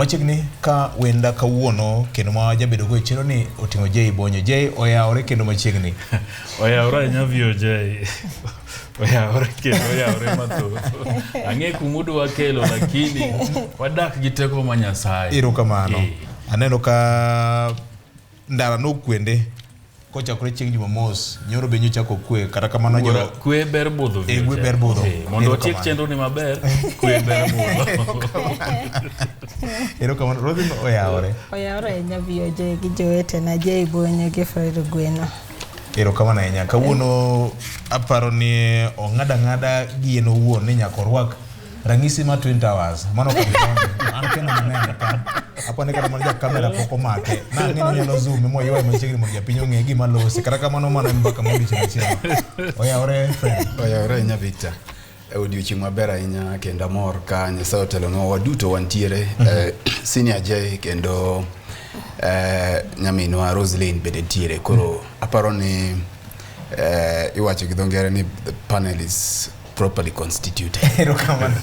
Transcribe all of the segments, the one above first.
machiegni ka wenda kawuono kendo ma jabedo go e chiro ni oting'o Jay Bonyo. Jay oyawore kendo machiegni. oyawore ahinya vio Jay. oyawore kendo oyawore mathoth. Ang'e kumudu wakelo lakini wadak gi teko ma Nyasaye. Ero kamano. Eh. Aneno ka ndara nokwende kochakore chieng' jumamos nyoro be nyochako kwe kata kamano jo kwe ber budho e kwe ber budho eh, mondo otiek chenro ni maber kwe ber budho ero kamano rodhi oyawore oyawore ahinya VOJ gi jowetena Jay Bonyo gi Fred Gweno ero kamano ahinya kawuono aparo ni ong'ada ng'ada gi en owuon ni nyaka orwak ranyisi ma twin towers mano ka an kendo maneno ka apo ne kata mana ja kamera pok omake na ng'e ni nyalo zoom mo ywa machiegni mondo japiny ong'e gima losi kata kamano mano en mbaka modiochieng' achiel oyawore friend oyawore ahinya victor e odiochieng' maber ahinya kendo amor ka nyasaye otelonwa waduto wantiere mm -hmm. eh, senior j kendo eh, nyaminwa roslin bende ntiere koro mm -hmm. aparo ni eh, iwacho gi dho ngere ni the panel is properly constituted erokamano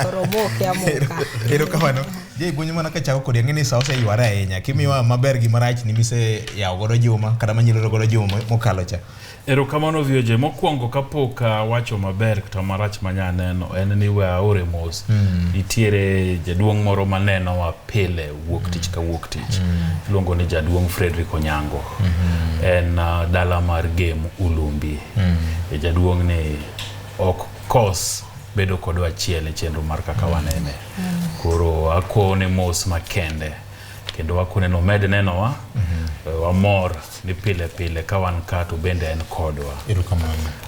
Koromoke amoka. erokamano je guonyo mana ka chako kodi ang'eni sa oseyware ahinya kimiwa maber gi marach ni mise yawo godo juma kata manyiloro godo juma mo- mokalo cha erokamano vioje mokwongo kapok awacho maber kata marach manya neno en ni we aore mos Mm. nitiere jaduong' moro manenowa pile wuok tich ka wuok tich iluongo ni jaduong' frederick onyango en uh, dala mar game ulumbi mm. e jaduong' ni ok kos bedo kodwa achiel e chenro mar kaka mm. wanene mm. koro akone mos makende kendo wakone nomed nenowa mm -hmm. wamor ni pile pile ka wan ka to bende en kodwa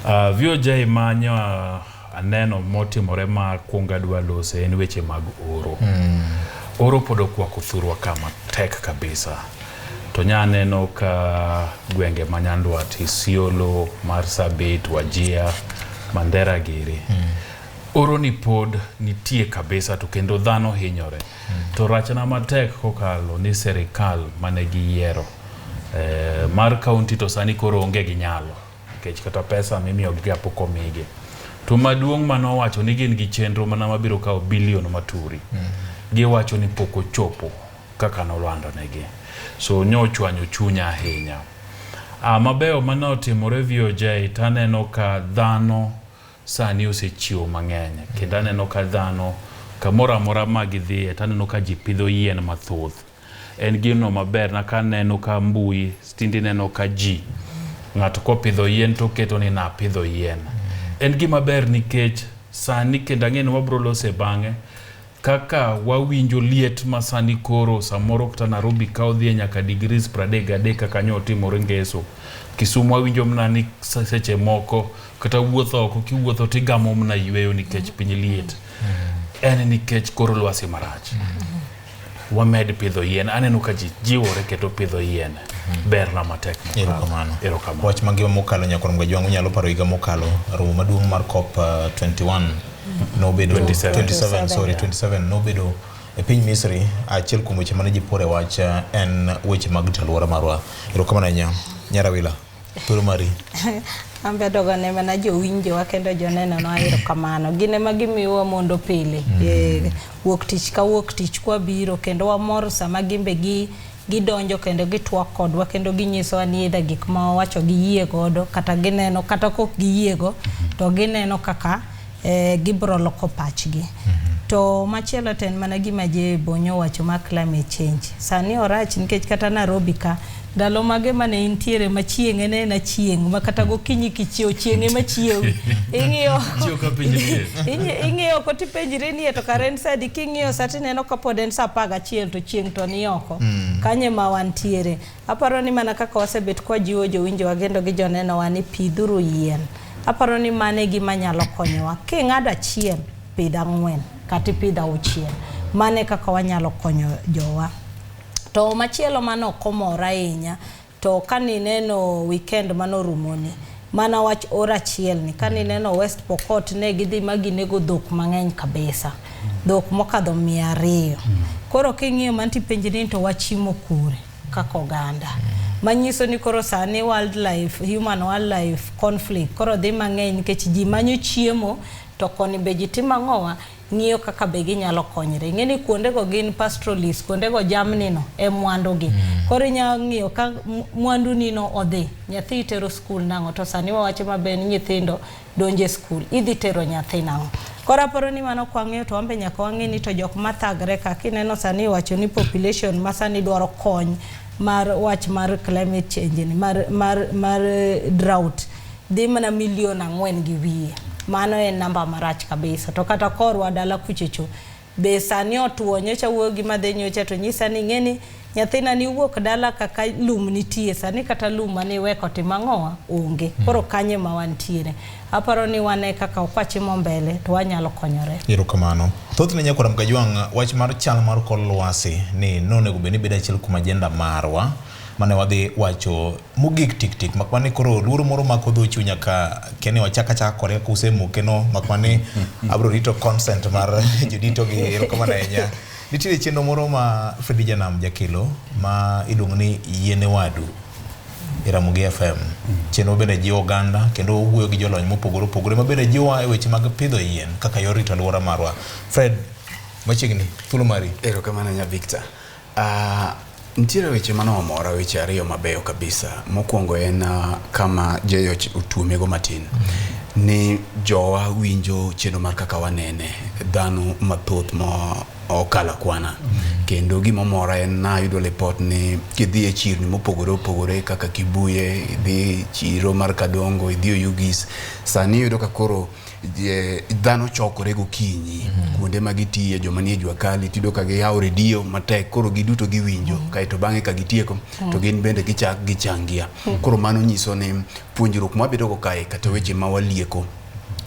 uh, ah, vioja imanyo uh, Aneno motimore ma kwongo adwa lose en weche mag oro. Mm. Oro pod okwako thurwa kama tek kabisa. To nya aneno ka gwenge ma Nyandwat, Isiolo, Marsabit, Wajia, Mandera giri. Mm. Oro ni pod nitie kabisa to kendo dhano hinyore. Mm. To rachna matek kokalo ni serikal mane giyiero. Eh, mar kaunti to sani koro onge gi nyalo. nikech kata pesa mimiyogiga pok omigi to maduong' ma nowacho ni gin gi chenro mana mabiro kawo bilion maturi mm. giwacho ni pok ochopo kaka nolandonegi so ne ochwanyo chunya ahinya ah, mabeyo mane otimore VOJ to aneno ka dhano sani osechiwo mang'eny kendo aneno ka dhano kamoro amora ma gidhiye to aneno ka ji pidho yien mathoth En gino maber na ka neno ka mbui stindi neno ka ji ng'ato kopidho yien to keto ni napidho yien. En gima ber nikech sani kendo ang'e ni wabro lose bang'e kaka wawinjo liet ma sani koro samoro kata Nairobi ka odhi e nyaka degrees pradek gadek kaka nyo otimore ngeso. Kisumu awinjo mna ni se- seche moko kata wuotho oko kiwuotho tigamo mna yweyo nikech piny liet. En nikech koro lwasi marach. wamed pidho yien. Aneno ka ji jiwore keto pidho yien mhm. berna matek erokamano erokamano wach mangima mokalo nyakorom gajwang' unyalo paro higa mokalo romo maduong' mar cop uh, 21 mhm. nobedo 27, 27 sorry 27 nobedo e piny misri achiel kuom weche mane ji pore wach uh, en weche mag rito alwora marwa erokamano ahinya nyarawila Tholo mari. An be adogo ne mana jowinjowa kendo jonenonwa erokamano. Gin ema gimiyowa mondo pile. Mm. Eh, wuok tich ka wuok tich kwabiro kendo wamor sama gin be gi gidonjo kendo gitwak kodwa kendo ginyisowa ni either gik ma wawacho giyie godo kata gineno kata kok giyiego mm-hmm. to gineno kaka eh, gibro loko pachgi mm -hmm. to machielo to en mana gima je bonyo wacho ma climate change sani orach nikech kata Nairobi ka ndalo mage mane intiere ma chieng' en en achieng' ma kata gokinyi kichiew chieng' ema chiew ing'iyo ing'iyo oko tipenjri ni to kare en sadi king'iyo sa tineno kapod en sa apar gachiel to chieng' to ni oko mm. kanye ma wantiere Aparo ni mana kaka wasebet kwa jiwo jowinjowa gendo gi jonenowa ni pidhuru yien. Aparo ni mane gima nyalo konyowa. King'ado achiel, pidh ang'wen, kata ipidh auchiel. Mane kaka wanyalo konyo jowa. To machielo mano okomora ahinya, to kani neno weekend mano rumoni, Mana wach or achiel ni kane mm. ineno West Pokot ne gidhi ma ginego dhok mang'eny kabisa. Mm. Dhok mokadho mia ariyo. Mm. Koro king'iyo manti penji ni to wachimo kure kaka oganda. Manyiso ni koro sani wildlife, human wildlife conflict koro dhi mang'eny nikech ji manyo chiemo to koni be ji timo ang'owa ng'iyo kaka be ginyalo konyre. Ing'e ni kuondego gin pastoralist, kuondego jamnino e mwandugi. Mm. Koro inyalo ng'iyo ka mwandunino odhi, nyathi itero skul nang'o, to sani wawacho maber ni nyithindo donje skul, idhi tero nyathi nang'o. Koro aparo ni mano kwang'eyo to wambe nyaka wang'e ni to jok mathagre ka kineno sani iwacho ni population ma sani dwaro kony mar wach mar climate change ni mar, mar, mar eh, drought dhi mana milion ang'wen gi wiye. Mano en namba marach kabisa. To kata korwa dala kuchecho be sani otuo nyocha wuoyo gi madhe nyocha to nyisa ni ng'eni nyathina ni wuok dala kaka lum nitie sani kata lum mane iweko timo ang'owa onge hmm. koro kanye ma wantiere aparo ni wane kaka okwachimo mbele to wanyalo konyore ero kamano thothne nyakora mkajwang' wach mar chal mar kor lwasi ni nonego bed ni bedo achiel kuom ajenda marwa mane wadhi wacho mogik tik tik mak mane koro luoro moro mako dho chunya ka kene wachak achaka kore kuse moke no mak mane abro rito consent mar jodito gi erokamano ahinya nitiere chenro moro ma Fredi Janam jakelo ma iluongo ni yiene wadu e Ramogi FM chenro bende jiwo oganda kendo wuoyo gi jolony mopogore opogore ma bende jiwowa e weche mag pidho yien kaka yor rito alwora marwa Fred machiegni thuolo mari Erokamano nya Victor. Uh, nitiere weche mane omora weche ariyo mabeyo kabisa. Mokwongo en uh, kama Jeyo otuomego matin mm -hmm. ni jowa winjo chenro mar kaka wanene dhano mathoth ma okala kwana mm -hmm. kendo gima omora en nayudo lipot ni kidhi e chirni mopogore opogore kaka Kibuye idhi chiro mar Kadongo idhi Oyugis sani iyudo ka koro dhano chokore gokinyi mm -hmm. kuonde ma gitiye joma nie jua kali tido ka giyawo redio matek koro giduto giwinjo mm -hmm. kaeto bang'e ka gitieko mm -hmm. to gin bende gichak gichangia mm -hmm. koro mano nyiso ni puonjruok mwabedogo kae kata weche ma walieko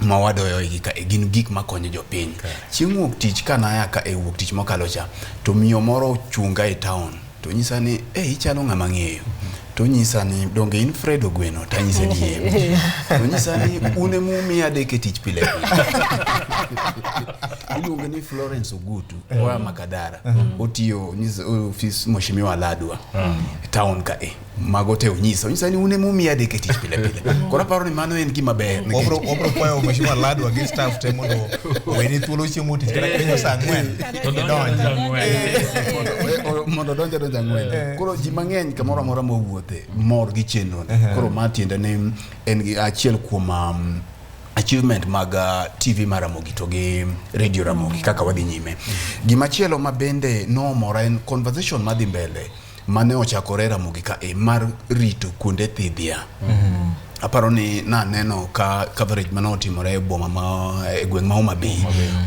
ma wadoyo igi ka e gin gik ma konyo jopiny chieng' wuok tich ka naya ka e wuok tich mokalo cha to miyo moro ochunga e town to nyisa ni e ichalo ng'ama ng'eyo to nyisa ni donge in Fred Ogweno to anyise ni yie to nyisa ni une mumi adek e tich pile iluonge ni Florence Ogutu eh. oa Makadara mm. otiyo ofis Mheshimiwa Ladwa mm. town ka e mago te onyisa onyisa ni un ema umiya adek e tich pile pile koro aparo ni mano en gima ber nikech- Wabro wabro kwayo mheshimiwa Ladwa gi staff te mondo oweni thuolo chiemo tich kata kwenyo saa ang'wen. To donjo Idonji. donjo ang'wen. Eh, o- mondo donja donja ng'wen koro ji mang'eny kamoro amora mowuothe mor gi chenro koro ma tiende ni en gi achiel kuom um, achievement mag uh, tv mar ramogi to gi radio ramogi kaka wadhi nyime gimachielo ma bende nomora en conversation madhi mbele mane ochakore Ramogi ka e mar rito kuonde thidhia. Mm-hmm. Aparo ni naneno ka coverage mane otimore e boma ma e gweng' ma Homa Bay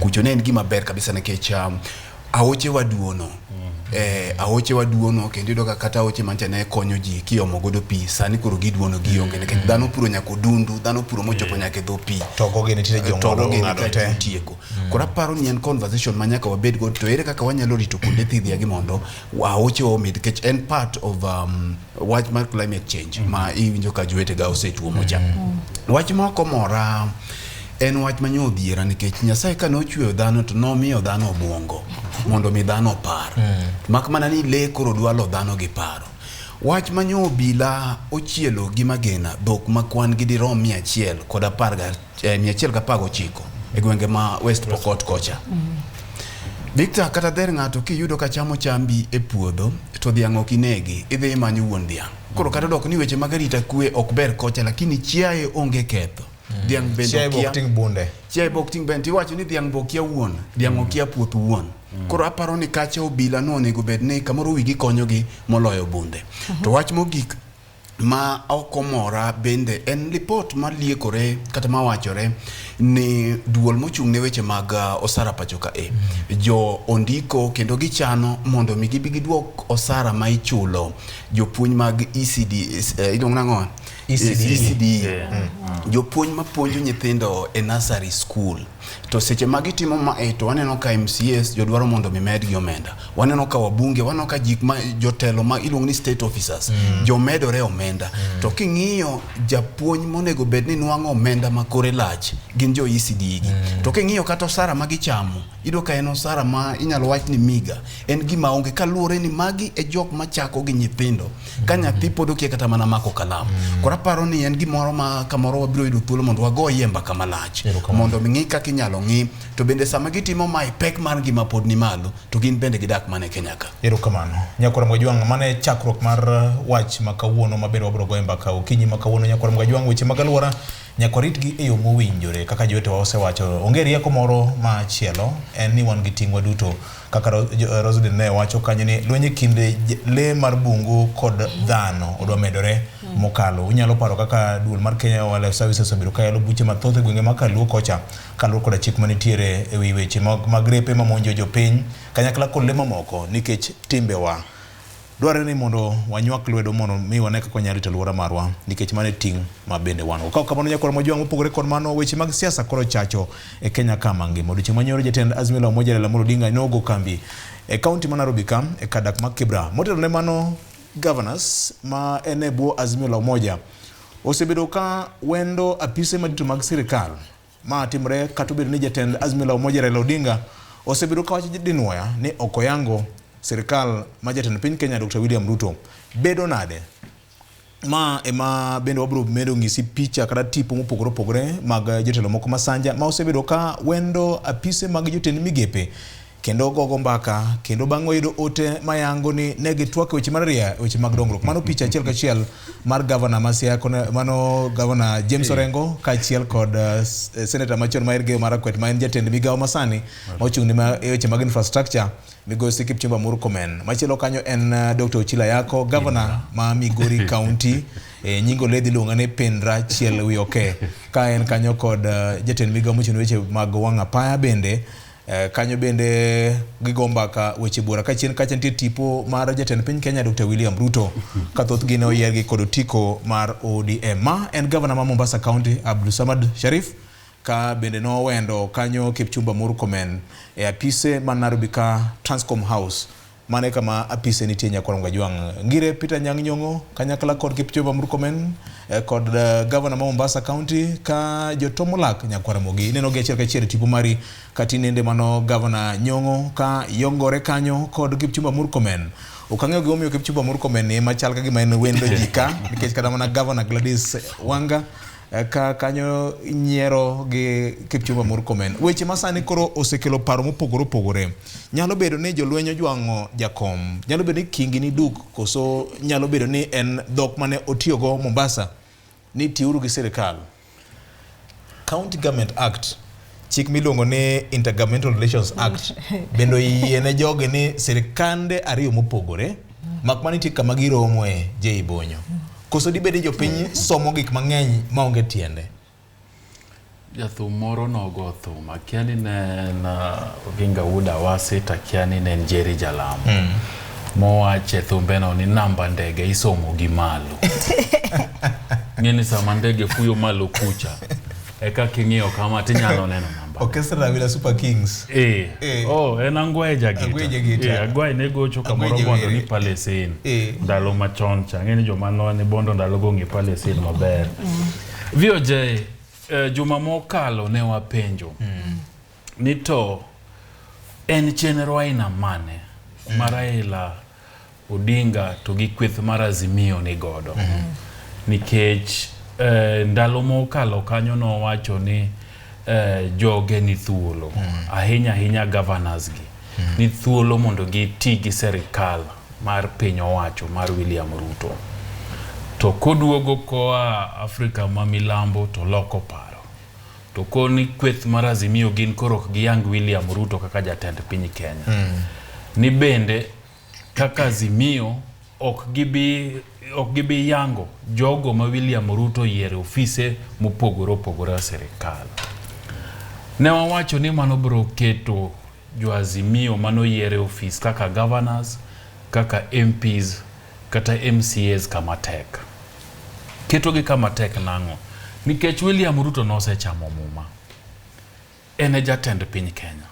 kucho ne en gima ber kabisa nikech um, aoche waduono mm-hmm. eh, aoche waduono kendo yudo ka kata aoche mancha ne konyo ji kiomo godo pi sani koro giduono gionge nikech mm-hmm. dhano puro nyaka odundu dhano puro mochopo nyaka e dho pi togoge nitiere eh, jong'ado ng'ado te tieko koro aparo ni en conversation ma nyaka wabed godo to ere kaka wanyalo rito kuonde thidhia gi mondo waoche omi nikech en part of um, wach mar climate change mm -hmm. ma iwinjo ka jowetega osetuomo cha mm -hmm. wach moko mora en wach manyo odhiera nikech nyasaye kane ochweyo dhano to nomiyo dhano obwongo mondo mi dhano opar mm -hmm. mak mana ni le koro dwalo dhano gi paro wach manyo obila ochielo gi magena dhok ma kwan gi dirom mia achiel kod apar eh, mia achiel gapar gochiko e gwenge ma West Pokot kocha. Victor kata dher ng'ato kiyudo ka chamo chambi e puodho to dhiang' ok inegi idhi imanyo wuon dhiang' koro kata dok ni weche mag arita kwe ok ber kocha lakini chiaye onge ketho dhiang' bende Chiaye okia- bok ting' bunde. chiaye bok ting' bende tiwacho ni dhiang' bokia wuon dhiang' okia puoth wuon koro aparo ni kacha obila no onego bed ni kamoro wigi konyogi moloyo bunde to wach mogik ma ok omora bende en lipot ma liekore kata ma wachore ni duol mochung' ne weche mag uh, osara pacho ka e jo ondiko kendo gichano mondo mi gibi gidwok osara ma ichulo jopuonj mag ECD eh, iluongo nang'o ECD. ECD. Yeah. jopuonj mapuonjo nyithindo e nursery school To seche ma gitimo ma e to waneno ka MCAs jodwaro mondo mi medgi omenda. Waneno ka wabunge, waneno ka jik ma jotelo ma iluongo ni state officers mm. jomedore omenda. Mm. To king'iyo japuonj monego bed ni nwang'o omenda ma kore lach gin jo ECD gi. Mm. To king'iyo kata osara ma gichamo, ido ka en osara ma inyalo wach ni miga. En gima onge kaluwore ni magi e jok ma chako gi nyithindo. ka nyathi pod okia kata mana mako kalamu mm. koro aparo ni en gimoro ma kamoro wabiro yudo thuolo mondo wagoyie mbaka malach mondo ming'i kaka inyalo ng'i to bende sama gitimo mae pek mar ngima pod ni malo to gin bende gidak mana e kenya ka erokamano nyakora mwajwang' mano e chakruok mar uh, wach ma kawuono maber wabiro goye mbaka okinyi ma kawuono nyakora mwajwang' weche mag alwora Nyaka waritgi e yo mowinjore. Kaka jowetewa osewacho, onge rieko moro ma chielo, en ni wan gi ting' waduto. Kaka Ro- Jo- eh, Roselyn ne wacho kanyo ni lweny e kind j- le mar bungu kod dhano odwa medore mokalo. Unyalo paro kaka duol mar Kenya Wildlife Services obedo ka yalo buche mathoth e gwenge ma Kaluo kocha kaluwore koda chik manitiere e wi weche mag mag repe mamonjo jopiny kanyakla kod le mamoko nikech timbewa. Dwarore ni mondo wanywak lwedo mondo mi wane kaka wanyalo rito alwora marwa nikech mano e ting' ma bende wan go. Ka ok kamano nyakwar mojwang' mopogore kod mano weche mag siasa koro chacho e Kenya ka mangima. Odiochieng' manyoro jatend Azimio la Umoja Raila Amolo Odinga ne ogo kambi e kaunti ma Nairobi ka e kar dak ma Kibra. Motelo ne mano, governors ma en e bwo Azimio la Umoja osebedo ka wendo apise madito mag sirkal. Ma timre kata obedo ni jatend Azimio la Umoja Raila Odinga osebedo ka wacho dinwoya ni ok oyango sirkal ma jatend piny Kenya Dr. William Ruto. Bedo nade? Ma ema bende wabiro medo ng'isi picha kata tipo mopogore opogore mag jotelo moko masanja ma osebedo ka wendo apise mag jotend migepe kendo ogogo mbaka kendo bang' oyudo ote mayango ni ne gitwak weche mar ria weche mag dongruok mano picha achiel kachiel mar gavana masia mano gavana James Orengo kaachiel kod uh, eh, senata machon ma Elgeyo Marakwet ma en jatend migawo masani ma ochung' ne eh, weche mag infrastructure migosi Kipchumba Murkomen machielo kanyo en uh, eh, Dr. Ochila Yako gavana ma Migori County e nyingo ledhi luonga ni Pindra Chiel Wioke ka en kanyo kod uh, jatend migawo mochung' ne weche mag wang' apaya bende Eh, kanyo bende gigo mbaka weche bura ka chien kacha nitie tipo mar jatend piny Kenya Dr. William Ruto ka thothgi ne oyiergi kod otiko mar ODM. Ma en gavana ma Mombasa County Abdul Samad Sharif ka bende nowendo kanyo Kipchumba Murkomen e apise ma Nairobi ka Transcom House Mano e kama apise nitie Nyakwar Ngajwang', Ngire, Peter Nyang' Nyong'o, kanyakla kod Kipchumba Murkomen eh, kod eh, gavana ma Mombasa County ka jotomo lak Nyakwar Mogi. Ineno gi achiel kachiel e tipo mari ka tinende mano gavana Nyong'o ka yongore kanyo kod Kipchumba Murkomen. Ok ang'eyo gimomiyo Kipchumba Murkomen ni ema chal ka gima en wendo ji ka nikech kata mana gavana Gladys Wanga Eh, ka kanyo nyiero gi Kipchumba Murkomen. Weche masani koro osekelo paro mopogore opogore. Nyalo bedo ni jolweny ojwang'o jakom, nyalo bedo ni kingi ni duk, koso nyalo bedo ni en dhok mane otiyogo Mombasa ni tiuru gi sirikal. County Government Act chik miluongo ni Intergovernmental Relations Act bende oyie ne jogi ni sirkande ariyo mopogore mak mana nitie kama giromoe Jay Bonyo. Koso dibed ni jopiny somo gik mang'eny maonge tiende. Jathum moro nogo thum akia ni ne en uh, Oginga Wood Awasi to akia ni ne en Jerry Jalamo mm. mowach e thumbeno ni namba ndege isomo gi malo ng'eni sama ndege fuyo malo kucha Eka king'iyo kama tinyalo neno namba. Orchestra Wila Super Kings. Eh. eh. Oh, en Angwae Jagita. Angwae Jagita. Eh, Angwae ne gocho kamoro bondo ni Palestine. Eh. Ndalo machon cha. Ng'eni joma noa ni bondo ndalo go ng'e Palestine maber. Mm. VOJ, eh, juma mokalo ne wapenjo. Mm. ni to en chenro aina mane ma mm. Raila Odinga to gi kweth mar Azimio ni godo mm. nikech eh, ndalo mokalo kanyo nowacho ni eh, joge ni thuolo mm. ahinya ahinya governors gi mm. ni thuolo mondo giti gi serikal mar piny owacho mar William Ruto to koduogo koa Afrika ma milambo to loko paro To koni kweth mar Azimio gin koro ok giyang William Ruto kaka jatend piny Kenya. Mm. Ni bende kaka Azimio ok gibi ok gibi yango jogo ma William Ruto yiere ofise mopogore opogore a sirikal. Ne wawacho ni mano biro keto jo Azimio mano yiere ofis kaka governors, kaka MPs kata MCAs kama tek. Ketogi kama tek nang'o? Nikech William Ruto nosechamo muma. En e jatend piny Kenya.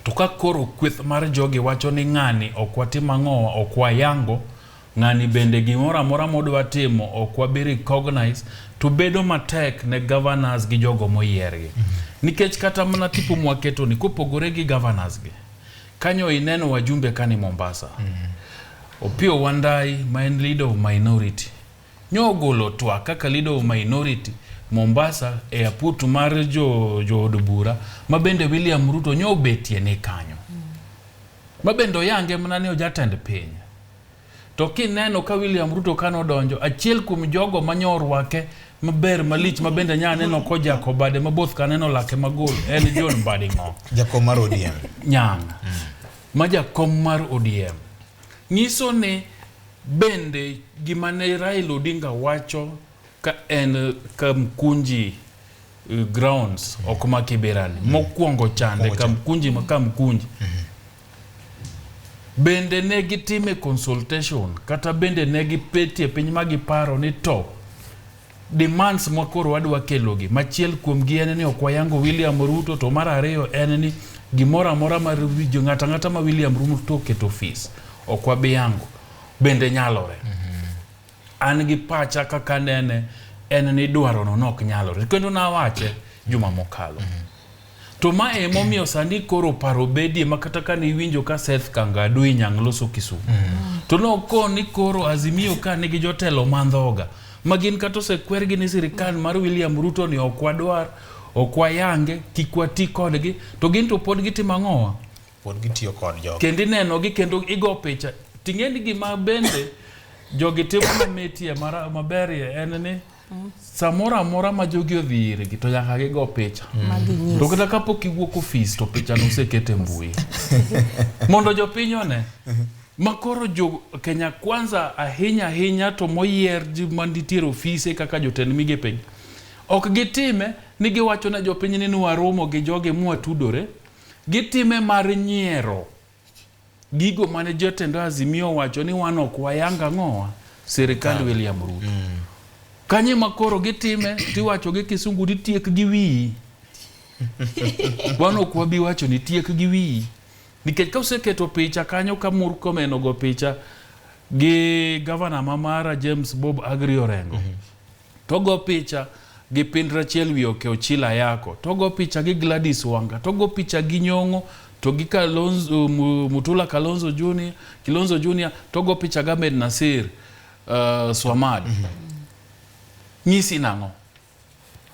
To ka koro kweth mar jogi wacho ni ng'ani ok watim ang'owa, ok wayango, ng'ani bende gimoro amora modwa timo ok wabi recognize, to bedo matek ne governors gi jogo moyiergi. Nikech kata mana tipo mwaketoni, kopogore gi governors gi, Kanyo ineno wajumbe kani Mombasa. Mm -hmm. Opio Wandai ma en leader of minority. Nyogolo twa kaka leader of minority Mombasa e aputu mar jo jo od bura ma bende William Ruto nyobetie ni kanyo. Mm -hmm. Ma bende oyange mana ni ojatend piny. To kineno ka William Ruto kane odonjo, achiel kuom jogo manyo orwake maber malich ma bende nya neno kojako bade ma both kaneno lake magol en John Mbadi Ng'o. Jakom mar ODM. Nyang'. Ma jakom mar ODM. Nyiso ni bende gima ne Raila Odinga wacho ka en Kamkunji eh, grounds ok ma Kibera ni. Mokwongo chande Mokwongo chande. Kamkunji ma Kamkunji. Bende ne gitime consultation kata bende ne gipetie piny ma giparo ni to demands ma koro wadwa kelogi machiel kuomgi en ni ok wayango William Ruto to mar ariyo en ni gimoro amora mar winjo ng'ata ng'ata ma William Ruto oketo ofis ok wabiyango bende nyalore. Mm -hmm. An gi pacha kaka nene en ni dwarono nok nyalore kendo nawache juma mokalo. Mm -hmm. To ma e momiyo sani koro paro bedie ma kata ka ne iwinjo ka Seth Kangadu inyang' loso Kisumu. Mm. To noko ni koro Azimio ka nigi jotelo mandhoga ma gin kata osekwergi ni sirikal mar William Ruto ni ok wadwar, ok wayange, kik wati kodgi, to gin to pod gitimo ang'owa? pod gitiyo kod jogi kendo inenogi kendo igo picha ting'e ni gima bende jogi timo mamitie mara- maberie en ni samoro amora ma jogi odhi irgi to nyaka gigo picha maginyis to kata kapok iwuok ofis to picha noseket e mbui mondo jopiny one ma koro jo kenya kwanza ahinya ahinya to moyier ji manitiere ofise kaka jotend migepegi ok gitime ni giwacho ne jopiny ni nwaromo gi jogi mwatudore Gitime mar nyiero gigo mane jotend Azimio owacho ni wan ok wayang ang'owa sirikand William Ruto. Mm. Kanye ma koro gitime tiwacho gi kisungu ni tiek gi wiyi. Wan ok wabi wacho ni tiek gi wiyi. Nikech ka useketo picha kanyo ka Murkomen ogo picha gi gavana ma Mara James Bob Agri Orengo. Mm -hmm. to go picha gi Pindrachiel wi oke Ochila Ayako, to go picha gi Gladys Wanga, to go picha gi Nyong'o, to gi Kalonzo, Mu- Mutula Kalonzo Junior, Kilonzo Junior, to go picha gi Ahmed Nasir uh, Swamad. Nyisi nang'o?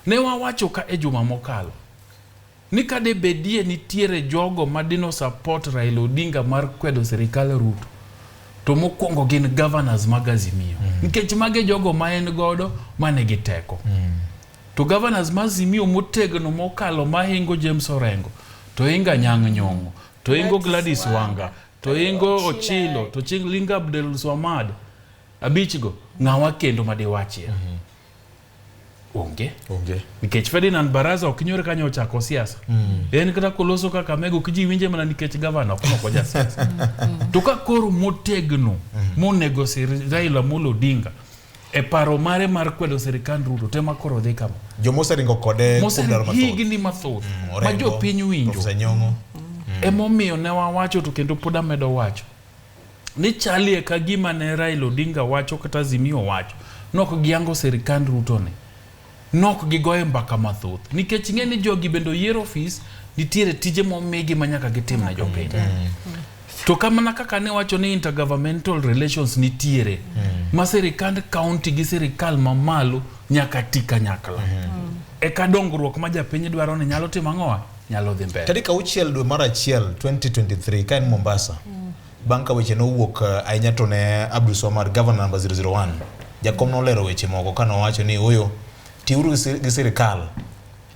Ne wawacho ka e juma mokalo Ni ka de bedie nitiere jogo ma dino support Raila Odinga mar kwedo sirikal Ruto, to mokwongo gin governors mag Azimio. Mm. Nikech mage jogo ma en godo mane gi teko. Mm. To governors ma Azimio motegno mokalo mahingo James Orengo, to inga Nyang' Nyong'o, to ingo Gladys Wanga, to ingo Ochilo, to ching Linga Abdel Swamad, abichgo, ng'awa kendo madiwachie. Mm -hmm. onge onge nikech Ferdinand Baraza ok nyore kanyo ochako siasa mm. en kata koloso kaka mego kiji winje mana nikech gavana ok noko ja siasa mm. to ka koro motegno mm. monego sir Raila Amolo Odinga e paro mare mar kwedo sirikand Ruto tema koro dhi kama joma oseringo kode moseromo higni mathoth mm, ma jopiny winjo mm. emomiyo ne wawacho to kendo pod amedo wacho ni chalie ka gima ne Raila Odinga wacho kata Azimio wacho nok giango sirikand Ruto ni nok gigoye mbaka mathoth nikech ing'e ni jogi bende oyier ofis nitiere tije momigi ma nyaka gitim na jopiny to kamana kaka ne wacho ni intergovernmental relations nitiere hmm. ma sirikand county gi sirikal mamalo nyaka ti kanyakla hmm. eka dongruok ma japiny dwaro ni nyalo timo ang'owa nyalo dhi mbele. Tarik auchiel dwe mar achiel 2023 ka en Mombasa mm. bang' ka weche nowuok eh, ahinya to ne Abdul Somar governor number 001 jakom nolero weche moko ka nowacho ni oyo tiuru gi sirikal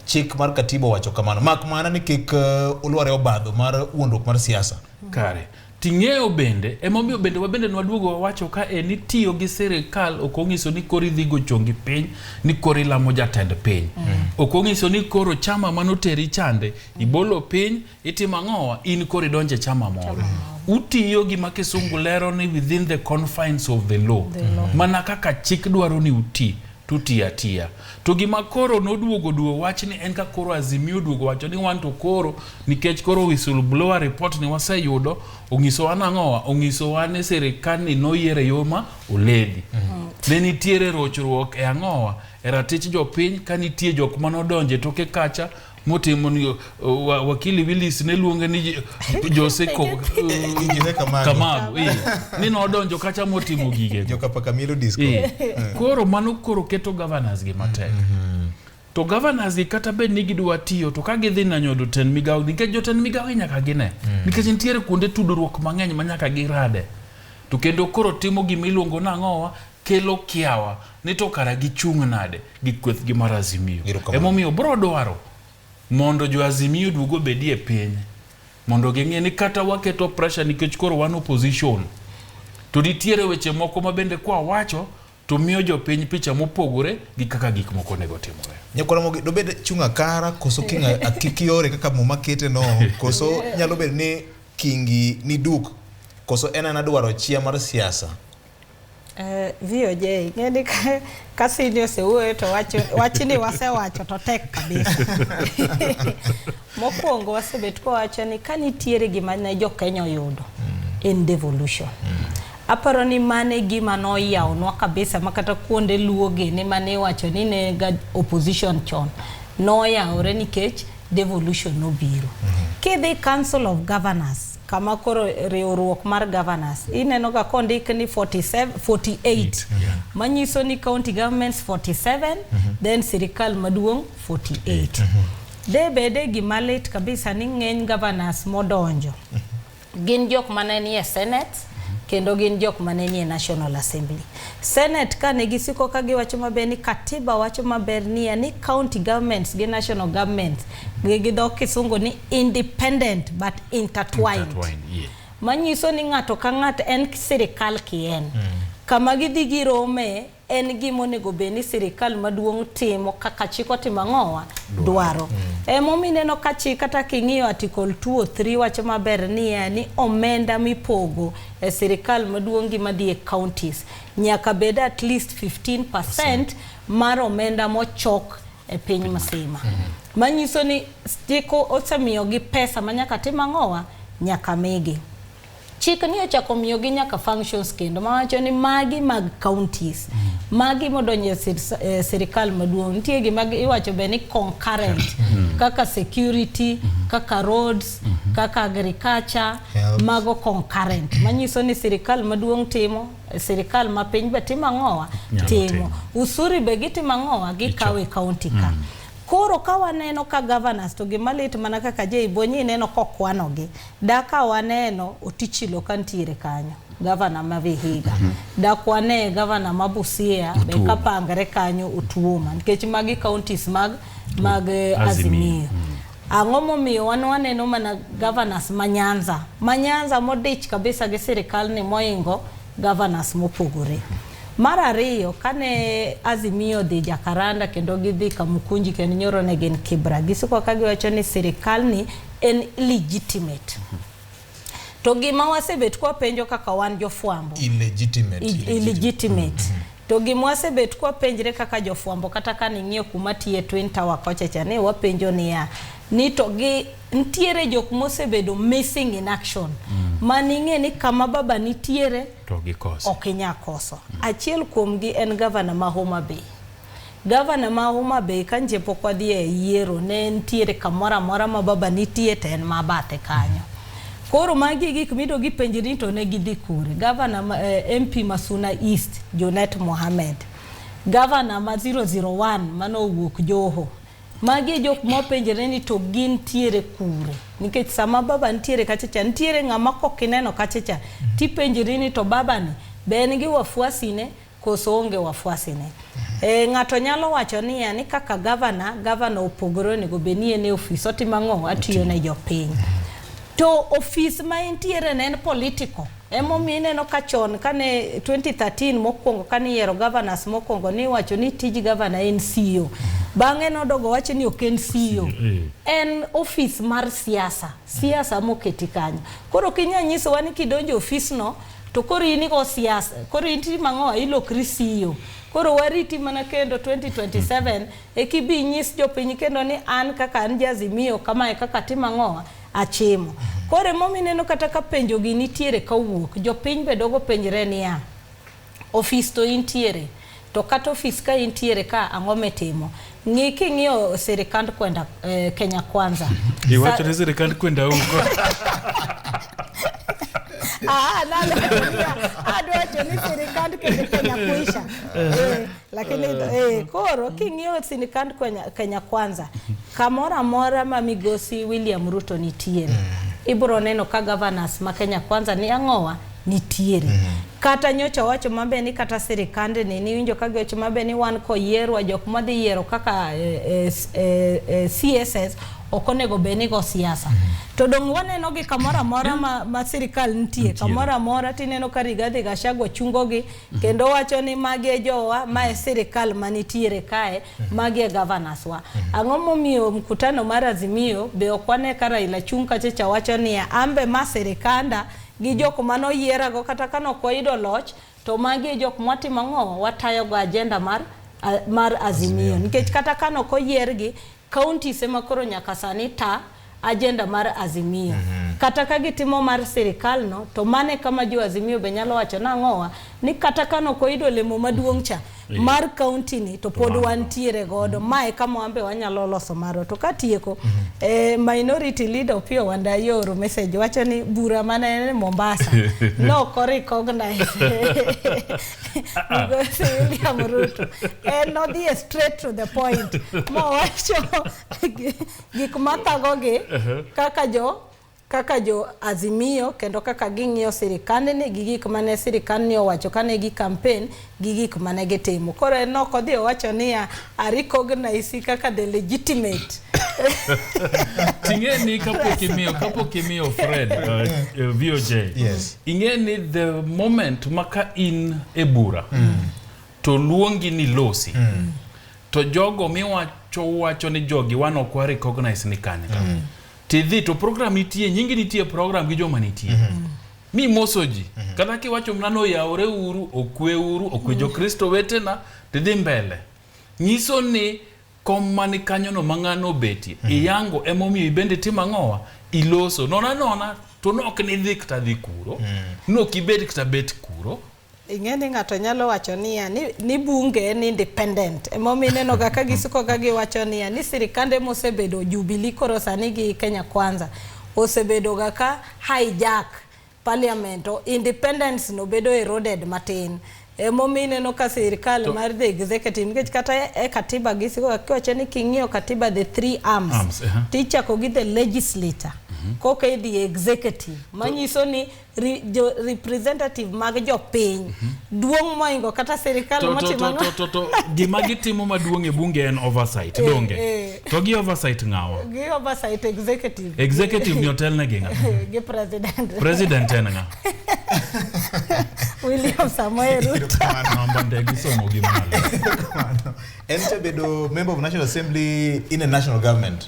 chik mar katiba owacho kamano mak mana ni kik uh, ulware obadho mar wuondruok mar siasa kare Ting'eyo bende, emomiyo bende wabende nwaduogo wawacho ka e ni tiyo gi sirikal ok ong'iso ni koro idhi go chongi piny ni koro ilamo jatend piny. Mm. Ok ong'iso ni koro chama manoteri chande ibolo piny itimo ang'owa in koro idonje chama moro. Mm. Utiyo gi makisungu lero ni within the confines of the law. The law. Mana kaka chik dwaro ni uti. to tiyo atiya. To gima koro noduogo duo wach ni en ka koro Azimio oduogo wacho ni wan to koro nikech koro whistle blower report ni waseyudo onyisowa nang'owa onyisowa ni sirikal ni noyiere yo ma oledi. Mm -hmm. Ne nitiere rochruok e ang'owa e ratich jopiny ka nitie jok manodonje toke kacha motimo ni uh, wa- wakili Willis ne luonge ni Je- Jose Ko- uh, Jose Kamago. Kamago eh. ni nodonjo kacha motimo gige Joka paka mielo disco. Eh, koro mano koro keto governors gi matek to governors gi kata bed ni gidwa tiyo to ka gidhi nanyo jotend migawo nikech jotend migawo gi nyaka gine nikech nitiere kuonde tudruok mang'eny ma nyaka girade to kendo koro timo gima iluongo nang'owa kelo kiawa ni to kara gichung' nade gi kwethgi mar Azimio. Emomiyo bro dwaro mondo jo Azimio duogo bedi e piny mondo ging'e ni kata waketo pressure nikech koro wan opposition to nitiere weche moko ma bende kwa wacho to miyo jopiny picha mopogore gi kaka gik moko onego timore. Nyakwara mogi dobed chunga kara koso kinga akikiore kaka muma kete no koso nyalo bed ni kingi ni duk koso en anadwaro chia mar siasa. Eh, VOJ ngeni ka kasini osewuoyo to wacho wachni wasewacho to tek kabisa mokwongo wasebet kowacho ni ka nitiere gima ne jo Kenya oyudo mm. en devolution mm. aparo ni mane gima noyawnwa kabisa ma kata kuonde luo gini mane iwacho ni ne ga opposition chon noyawore nikech devolution nobiro mm -hmm. kidhi council of governors kama koro riwruok mar governors ineno ga kondik ni 47, 48 Eight, yeah. manyiso ni county governments 47 then sirikal maduong' 48 de bede gima lit kabisa ni ng'eny governors modonjo gin jok mane nie senate kendo gin jok mane nie national assembly Senate kane gisiko ka giwacho maber ni katiba wacho maber niya ni county governments gi national governments gi gi dho kisungu ni independent but intertwined, Intertwined, yeah. manyiso ni ng'ato ka ng'ato en sirikal kien kama gidhi girome en gima onego bed ni sirikal maduong' timo kaka chik otimo ang'owa dwaro emomiyo ineno ka chik kata king'iyo article 2 or 3 wacho maber niya ni omenda mipogo e sirikal maduong' gi madhi e counties nyaka bed at least 15% mar omenda mochok e piny msima mm-hmm. manyiso ni stiko osemiyogi pesa ma nyaka tim ang'owa nyaka migi chik ni ochako miyogi nyaka functions kendo mawacho ni magi mag counties mm-hmm. magi modonjo e sirikal e maduong' nitie gima iwacho be ni concurrent mm-hmm. kaka security kaka roads mm -hmm. kaka agriculture Health. mago concurrent manyiso ni sirikal maduong' timo sirikal ma piny be timo ang'owa timo usuri be gitimo ang'owa gikawo e kaunti ka mm. Koro ka waneno ka governors to gima lit mana kaka Jay Bonyi ineno kokwanogi da ka waneno otichilo ka ntiere kanyo gavana ma Vihiga mm -hmm. dakwane gavana ma Busia be kapangre kanyo Otuoma nikech magi counties mag mag Azimio, Azimio. Mm -hmm. Ang'o momiyo wan waneno mana governors ma Nyanza, ma Nyanza modich kabisa gi sirikal ni moingo governors mopogore. Mar ariyo, kane Azimio dhi Jakaranda kendo gidhi Kamukunji kendo nyoro ne gin Kibra, gisiko ka giwacho ni sirikal ni en illegitimate. To gima wasebet kwa penjo kaka wan jofwambo. Illegitimate. Illegitimate. Mm -hmm. To gima wasebet kwa penjre kaka jofwambo kata ka ning'iyo kuma tiye Twin Tower kocha cha ne wapenjo niya ni to gi ntiere jok mosebedo missing in action mm. ma ning'e ni kama baba nitiere to gikoso. Ok inyakoso. Mm. Achiel kuomgi en gavana ma Homa Bay. Gavana ma Homa Bay ka nje pok wadhi e yiero ne nitiere kamoro amora ma baba nitie to en ma bathe kanyo. Koro magi gik mido gipenji ni to ne gidhi kure. Gavana ma, eh, MP ma Suna East Junet Mohamed. Gavana ma 001 mano owuok Joho. Magi e jok mopenjre ni to gintiere kure. Nikech sama baba nitiere kacha cha nitiere ng'ama kok ineno kacha cha tipenjri ni to babani be en gi wafuasine koso onge wafuasi ne. E, ng'ato nyalo wacho niya ni kaka gavana, gavana opogore onego bed ni en e ofis otimo ang'o? Atiyo ne jopiny. To ofis ma entiere ne en political. Emomiyo ineno ka chon kane 2013 mokwongo kane iyiero governors mokwongo niwacho ni tij gavana en CEO. Bang'e nodogo wacho ni ok en CEO. Eh. En ofis mar siasa. Siasa moketi kanyo. Koro kinya nyisowa ni kidonjo ofisno To koro in igo siasa, koro inti mang'o ilokri siyo. Koro wariti mana kendo 2027 ekibi nyis jopiny kendo ni an kaka an jazimio kamae kaka timo ang'owa achimo. Koro emomi neno kata ka penjo gi nitiere kawuok, jopiny be dogo penjre niya, ofis to intiere. To kata ofis ka intiere ka ang'o mitimo? Ng'i king'iyo sirikand kwenda eh, Kenya Kwanza. Iwacho ni sirikand kwenda huko. Ah, nalo adwacho ni sirikand Kenya kuisha. Eh, lakini eh, koro king'iyo sirikand Kenya, Kenya Kwanza kamoro amora ma migosi William Ruto nitiere ibro neno ka governors ma Kenya Kwanza ni ang'owa nitiere mm -hmm. kata nyocha wacho mabe ni kata sirikande ni niwinjo ka giwacho mabe ni wan koyierwa jok ma dhi yiero kaka eh, eh, eh, eh CSS ok onego bed ni go siasa mm -hmm. to dong' waneno gi kamoro amora ma, ma sirikal nitie kamoro amora tineno ka Rigathi Gachagua chungogi mm -hmm. kendo wacho ni magi e jowa ma e sirikal ma nitiere kae mm -hmm. magi e governors wa mm -hmm. ang'o momiyo mkutano mar Azimio be ok wane ka Raila chung' kachacha wacho niya ambe ma sirikanda gi jok mane oyierago kata kane ok wayudo loch to magi e jok mwatimo ang'o watayogo ajenda mar, mar Azimio nikech kata kane ok oyiergi counties ema koro nyaka sani ta ajenda mar Azimio mm -hmm. kata ka gitimo mar sirikal no to mane kama jo Azimio be nyalo wacho nang'owa ni kata kane ok oyudo olemo maduong' cha eh. mar county ni to pod wantiere godo mm-hmm. mae kama wambe wanyalo loso marwa to katieko mm -hmm. eh, minority leader Opiyo Wandayi oro message wacho ni bura manene Mombasa no ko recognize because William Ruto and not the straight to the point mo wacho gik mathagogi uh-huh. kaka jo kaka jo Azimio kendo kaka ging'iyo sirikandni gi gik mane sirikandni owacho kane gi campaign gi gik mane gitimo. Koro en ok odhi owacho niya I recognize kaka the legitimate ting'eni kapok imiyo kapok imiyo Fred uh, uh, VOJ Yes. ing'eni the moment ma ka in e bura to luongi ni losi to jogo miwacho wacho ni jogi wan ok wa recognize ni kanyo Tidhi to program nitie, nyingi nitie program gi joma nitie. Mm -hmm. Mi moso ji. Mm -hmm. Kata kiwacho mna no yaore uru, okwe uru, okwe jo Kristo wetena, tidhi mbele. Nyiso ni kom mani kanyo no mang'ano obetie. Mm -hmm. Iyango emomiyo ibende timo ang'owa, iloso. Nona nona to nok nidhi kata dhi kuro. Mm -hmm. Nok ibed kata bet kuro. ing'e ni ng'ato nyalo wacho niya ni, ni bunge en independent emomiyo inenoga ka gisukoga giwacho niya ni sirikande mosebedo Jubilee koro sani gi Kenya Kwanza osebedoga ka hijack parliament o independence no bedo eroded matin emomiyo ineno ka sirikal mar the executive nikech kata e- e katiba gisiko kiwacho ni king'iyo katiba the three arms, Arms, aha. tichako gi the legislature koka idhi e executive manyiso ni re, jo representative mag jopiny mm -hmm. duong' moingo kata sirikal motimo to, to, to, to, gima gitimo maduong' e bunge en oversight eh, donge eh. to gi oversight ng'awa gi oversight executive executive ni otel ne gi ng'a gi president president en ng'a William Samoei Ruto namba ndege somo gi malo en to bedo member of national assembly in a national government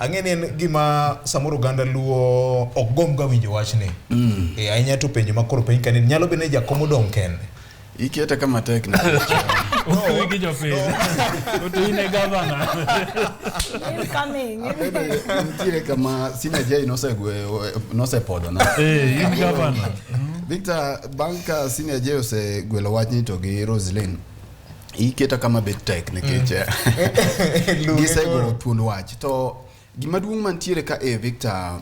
Ang'e ni en gima samoro oganda luo ok gomga winjo wachni. Mm. E, ahinya to penjo ma koro penj kanini nyalo bedo ni jakom odong' kende. Iketa kama tek na. Usiwi gi jopiny. Utu ine gavana. Incoming. Nitiere kama sina jai nosegweyo nosepodho na. Eh, in gavana. Victor, bang' ka senior jai osegwelo wachni to gi Roselyn, iketa kama bet tek nikech mm. gisego thuond wach to gima duong' mantiere ka e Victor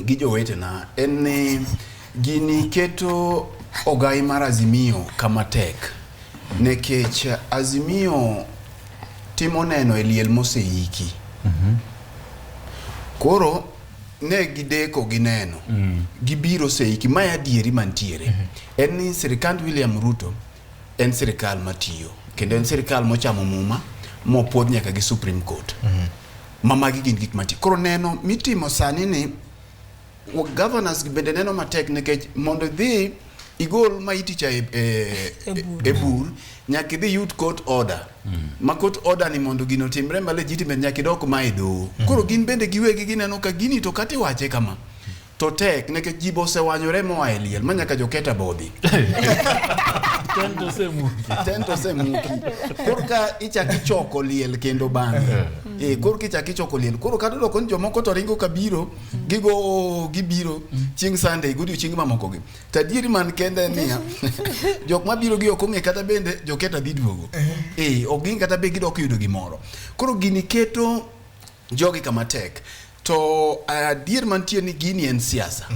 gi jowetena en ni gini keto ogai mar Azimio kama tek nekech Azimio timo neno e liel moseiki mm -hmm. koro ne gideko gi neno mm. gibiro seiki ma adieri mantiere mm -hmm. en ni sirikand William Ruto mm en sirikal matiyo kendo en sirikal mochamo muma mopuodh nyaka gi Supreme Court mhm. ma magi gin gik mati koro neno mitimo sani ni governors bende neno matek nikech mondo idhi igol ma iticha e, e, e, e bur nyaka idhi yut court order mm. ma court order ni mondo gino timre ma legitimate nyaka idok ma e doho mm. koro gin bende giwegi gineno ka gini to kata iwache kama to tek nikech ji be osewanyore moa e liel ma nyaka joketa bodhi Tento osemuki. tento osemuki korka ichako ichoko liel kendo bang'e Eh, korka ichako ichoko liel koro kata doko ni jomoko to ringo kabiro gigo "Oo, gibiro chieng' sunday godiochienge mamokogi to adieri man kende en niya jok mabiro gi ok ong'e kata bende joketa dhi duogo Eh, ok gin kata be gidok yudo gimoro koro gini keto Jogi kama tek. To adier mantie ni gini en siasa.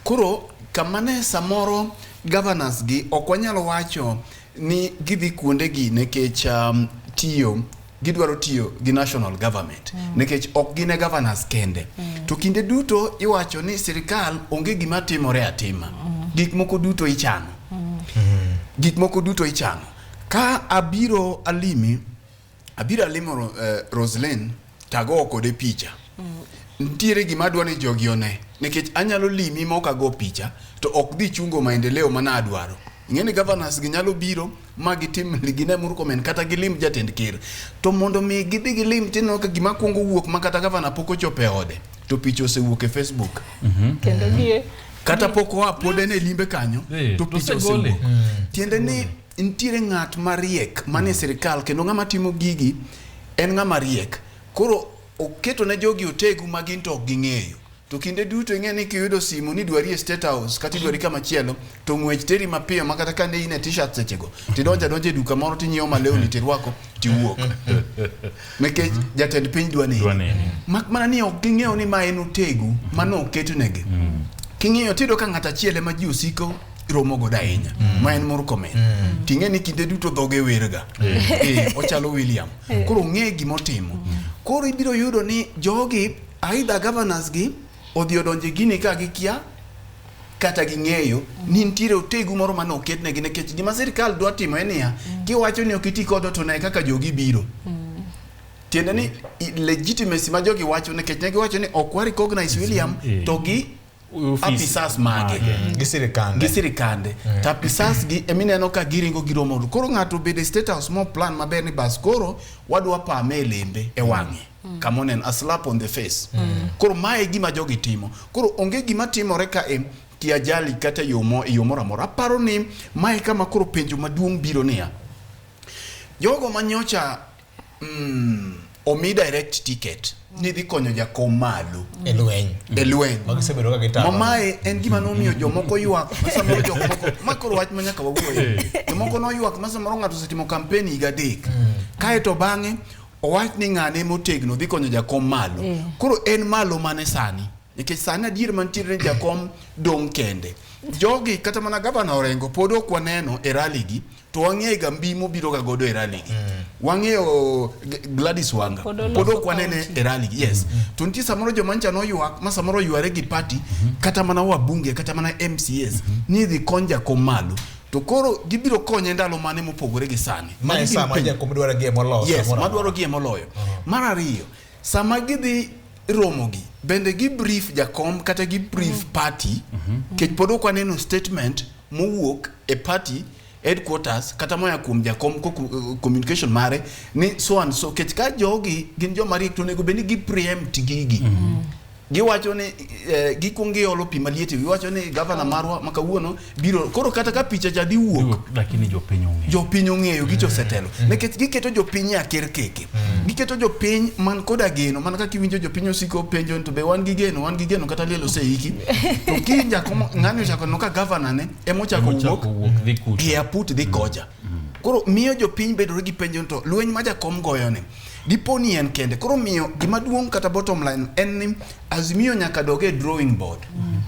Koro kama ne samoro governors gi ok wanyal wacho ni gidhi kuonde gi nekech um, tiyo gidwaro tiyo gi national government mm. nekech ok gine governors kende mm. to kinde duto iwacho ni sirikal onge gima timore atima mm. gik moko duto ichano mm. gik moko duto ichano ka abiro alimi Abiro alimo uh, eh, Roslyn tago kode picha. Mm. Nitiere gima adwa ni jogi one nikech anyalo limi ma ok ago picha to ok dhi chungo maendeleo mana adwaro. Ing'e ni governors gi nyalo biro ma gitim gine muru komen kata gilim jatend ker. To mondo mi gidhi gilim tineno ka gima kwongo wuok ma kata gavana pok ochopo e ode to picha osewuok e Facebook. Mm -hmm. Kendo gie kata pok oa pod en e limbe kanyo to picha osewuok. Tiende ni Nitiere ng'at mariek manie mm. sirkal kendo ng'ama timo gigi en ng'ama riek. Koro oketo ne jogi otegu ma gin to ok ging'eyo. To kinde duto ing'e ni kiyudo simu ni dwari e State House kata idwari kama chielo to ng'wech teri mapiyo ma kata kane in e t-shirt sechego tidonjo adonja e duka moro tinyiewo malewni mm. tirwako tiwuok. Nikech mm-hmm. jatend piny dwa ni. Mak mana ni ok ging'eyo ni ma en otegu mano oketunegi. Mm. King'iyo tiyudo ka ng'at achiel ema ji osiko romo godo ahinya mm. ma en Murkomen mm. ting'e ni kinde duto dhoge werga eh, ochalo William eh. koro ong'e gima otimo mm. koro ibiro yudo ni jogi aidha governors gi odhi odonje gini ka gikia kata ging'eyo ni nitiere otegu moro mane oketnegi nikech gima sirikal dwa timo en niya kiwacho ni ok iti kodo to ne kaka jogi biro tiende ni legitimacy ma jogi wacho nikech ne giwacho ni ok wa recognize William to gi apisas mage mm. gisirikande mm. to apisas gi emineno ka giringo giromo koro ng'ato obedo e state house mo plan maber ni bas koro wadwa pame e lembe e mm. wang'e mm. kama oneno a slap on the face mm. koro mae gima jogi timo koro onge gima timore ka e ti ajali kata e yo moro amora aparo ni mae kama koro penjo maduong' biro niya jogo manyocha Mm, omi direct ticket ni dhi konyo jakom malo e lweny e lweny ma gisebedo ka gitamo mamae en gima nomiyo jomoko ywak samoro jok moko ma koro wach ma nyaka wawuoye jomoko noywak ma samoro ng'ato osetimo kampen higa adek mm. kae to bang'e owach ni ng'ane motegno dhi konyo jakom malo eh. koro en malo mane sani nikech sani adier mantiere ni jakom dong' kende jogi kata mana gavana orengo pod ok waneno e raligi to wang'eyo ga mbi mobiro ga godo e rally gi mm. wang'eyo Gladys Wanga pod ok wanene e rally gi yes mm. to nitie samoro joma ncha noywak ma samoro yware gi party mm-hmm. kata mana wabunge kata mana MCS mm-hmm. ni idhi kony jakom malo to koro gibiro konye ndalo mane mopogore gi sani madwaro gie moloyo yes madwaro gie moloyo uh-huh. mar ariyo Sama gidhi romogi bende gi brief jakom kata gi brief mm-hmm. party mm-hmm. kech pod ok aneno statement mowuok e party headquarters kata moya kuom jakom eh, communication mare ni so and so kech ka jogi gin joma riek to onego bed ni gi preempt gigi mm-hmm. giwacho ni eh, gikwong giolo pi maliet giwacho ni gavana marwa ma kawuono biro koro kata ka picha cha diwuok lakini jopiny ong'eyo jopiny ong'eyo gi josetelo mm. nikech giketo jopiny e aker keke mm. giketo jopiny man koda geno man kaka iwinjo jopiny osiko penjo to be wan gi geno wan gi geno kata liel oseiki to kiny jako ng'ani ochako no ka gavana ne ema ochako wuok e aput dhi koja mm. koro miyo jopiny bedore gi penjo to lweny ma jakom goyoni Dipo ni en kende. Koro miyo gima duong' kata bottom line en ni Azimio nyaka dog e drawing board. Mm.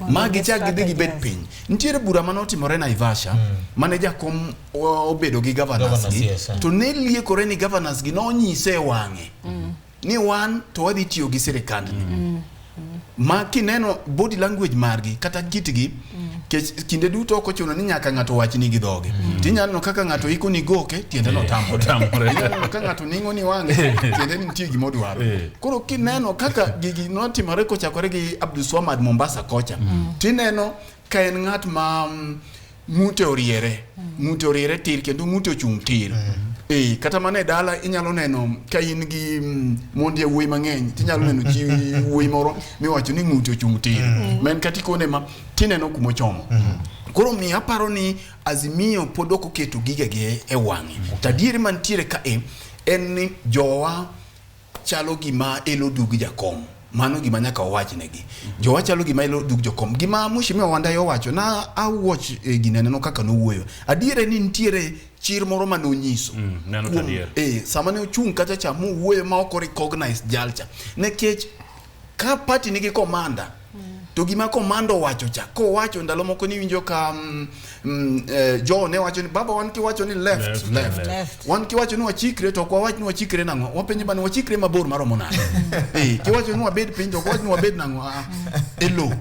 Ma gichak gidhi gibed piny. Nitiere bura mane otimore Naivasha mm. mane jakom obedo gi governors gi yes, eh. to ne liekore ni governors gi nonyise wang'e mm. ni wan to wadhi tiyo gi sirikandni. Mm. ma kineno body language margi kata kitgi kech kinde duto ok ochuno ni nyaka ng'ato wachni gi dhoge tinyalo neno kaka ng'ato iko ni goke tiende no tamore Otamore. Inyalo neno ka ng'ato ning'o ni wang'e tiende ni nitie gima odwaro Eh. koro kineno kaka gigi notimore kochakore gi Abdulswamad Mombasa kocha tineno Ka en ng'at ma mm, ng'ute oriere, ng'ute oriere tir kendo ng'ute ochung' tir. Eh, kata mana e dala inyalo neno ka in gi mm, mond yawuoyi mang'eny tinyalo neno chi wuoyi moro miwacho ni ng'ute ochung' tir. Ma en kata ikone ma tineno kuma ochomo. Koro mi aparo ni Azimio pod ok oketo gigege e wang'e. To adieri mantiere ka e en ni jowa chalo gima elo dug jakom mano gima nyaka owachnegi jowa chalo gima elo dug jokom gima mheshimiwa wandayi owacho na awuoch e, gine neno kaka nowuoyo adiere ni nitiere chir moro ma nonyiso Mm, neno Kuom- kadier. eh, sama ne ochung' kacha cha mowuoyo ma ok recognize jalcha nikech Ka party nigi komanda to gima komanda owacho cha kowacho ndalo moko ni winjo ka mm, mm, eh, jo ne wacho ni baba wan kiwacho ni left left, left. left. left. wan kiwacho ni wachikre to kwa wach ni wachikre nango wapenje bana wachikre mabor maromo nade eh kiwacho ni wabed piny to kwa wach ni wabed nango a ah, elo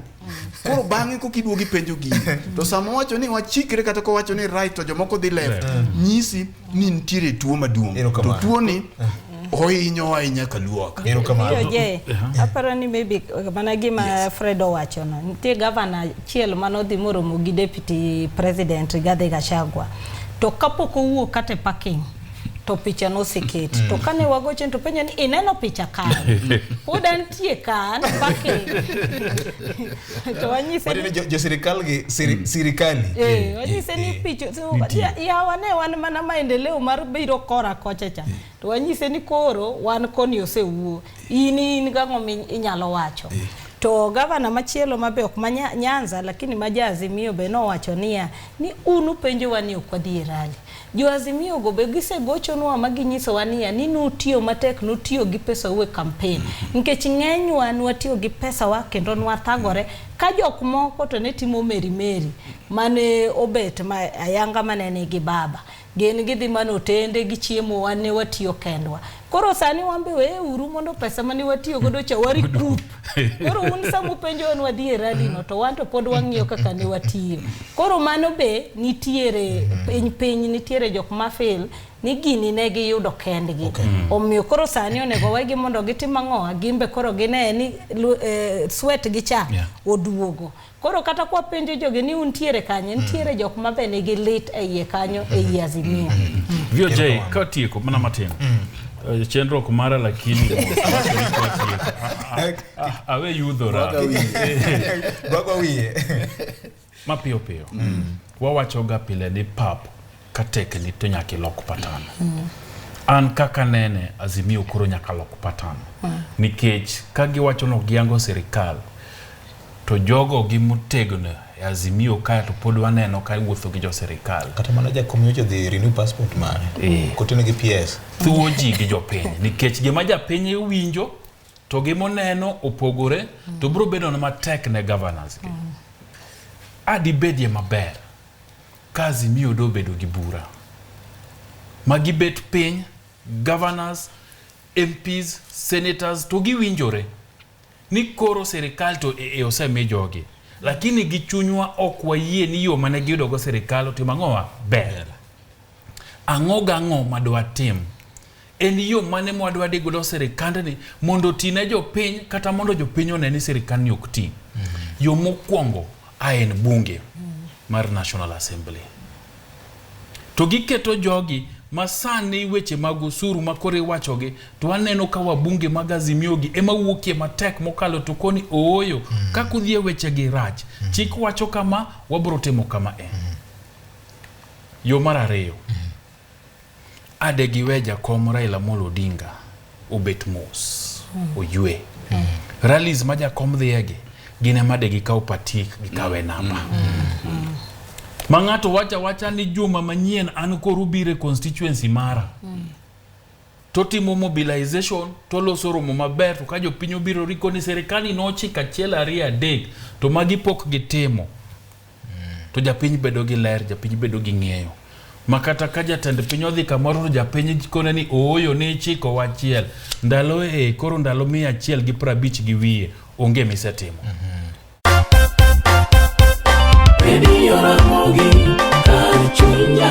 koro bang'e koka iduogo ipenjo gini to sama owacho ni wachikre kata kowacho ni right to jomoko dhi left nyisi ni nitiere tuo maduong' to Erokamano. tuoni ohinyo ahinya ka luok Hiyo je, aparo ni maybe uh, mana gima Fred owacho no. Nitie gavana achiel mane odhi moromo gi deputy president Rigathi Gachagua. To kapok owuok kata e parking, to picha noseket mm. to kane wagochen to penjo ni ineno picha kan pod antie kan pake to wanyise ni jo sirikal gi mm. sirikali eh, eh wanyise ni eh, picha eh, ya wane wan mana maendeleo mar biro kora kocha cha to wanyise ni koro wan koni osewuo in in gang'o inyalo wacho to gavana machielo mabe ok ma Nyanza lakini majazi miyo be nowacho niya ni un upenjowa ni ok wadhi e rally Jo Azimio go be gisegochonwa ma ginyisowa niya ni nutiyo matek, nutiyo gi pesau e kampen. Nikech ng'enywa nwatiyo gi pesawa kendo nwathagore ka jok moko to ne timo meri meri mane obet ma ayanga mane nigi baba. Gin gidhi mana otende gichiemo wan ne watiyo kendwa. Koro sani wan be weye uru mondo pesa mane watiyo godo cha wari group. Koro un sama upenjo wan wadhi e rally no to wan to pod wang'iyo kaka ne watiyo. Koro mano be nitiere piny piny nitiere jok ma fail ni gini ne giyudo kendgi. Okay. Omiyo koro sani onego wegi mondo gitim ang'o? Gimbe koro gine ni eh, sweat gi cha yeah. oduogo. Koro kata kwa penjo jogi ni untiere kanye, nitiere mm. jok ma be nigi lit e iye kanyo e iye mm. Azimio. Mm. VOJ ka tieko mana matin. Eh, chenro ok mara lakini awe yudhora mapiyo piyo wawachoga pile ni pap ka tek lit to nyaka ilok patan mm. an kaka nene azimio koro nyaka lok patan mm. nikech ka giwacho no giango sirikal to jogo gi motegno e azimio kae to pod waneno ka iwuotho gi jo sirikal kata mana jakom nyocha dhi renew passport mare eh. kotene gi ps thuwo ji gi jopiny nikech gima japiny winjo to gi moneno opogore mm. to biro bedo na matek ne governors gi mm. adibedie maber Kazi miyo do bedo gi bura ma gibet piny governors, MPs, senators to giwinjore ni koro sirikal to e, e osemi jogi lakini gi chunywa ok wayie ni yo mane giyudogo sirikal otim ang'owa ber ang'o gang'o madwatim En yo mane mwadwa dhi godo sirikandni mondo oti ne jopiny kata mondo jopiny one ni sirikandni ok ti? Mm -hmm. Yo mokwongo a en bunge mm -hmm. mar National Assembly. To giketo jogi ma sani weche mag osuru ma koro iwachogi to aneno ka wabunge mag Azimiogi ema wuokie matek mokalo to koni ooyo mm -hmm. kaka udhi e wechegi rach mm -hmm. chik wacho kama wabiro timo kama e mm -hmm. yo mar ariyo mm -hmm. A de gi we jakom Raila Amolo Odinga obet mos mm. oywe mm. rallies ma jakom dhiyegi gin ema de gikaw patik gikawe mm. namba mm. ma ng'ato wacha wacha ni juma manyien an koro bire constituency mara mm. totimo mobilization toloso romo maber to ka jopiny obiro riko ni serikali nochiko achiel ariyo adek to magi pok gitimo to japiny bedo gi ler japiny bedo gi ng'eyo ma kata ka jatend piny odhi kamoro to japiny kone ni ooyo ne chiko wachiel ndalo e koro ndalo mia achiel gi prabich gi wiye onge misetimo mm -hmm. Radio Ramogi, Kar Chunya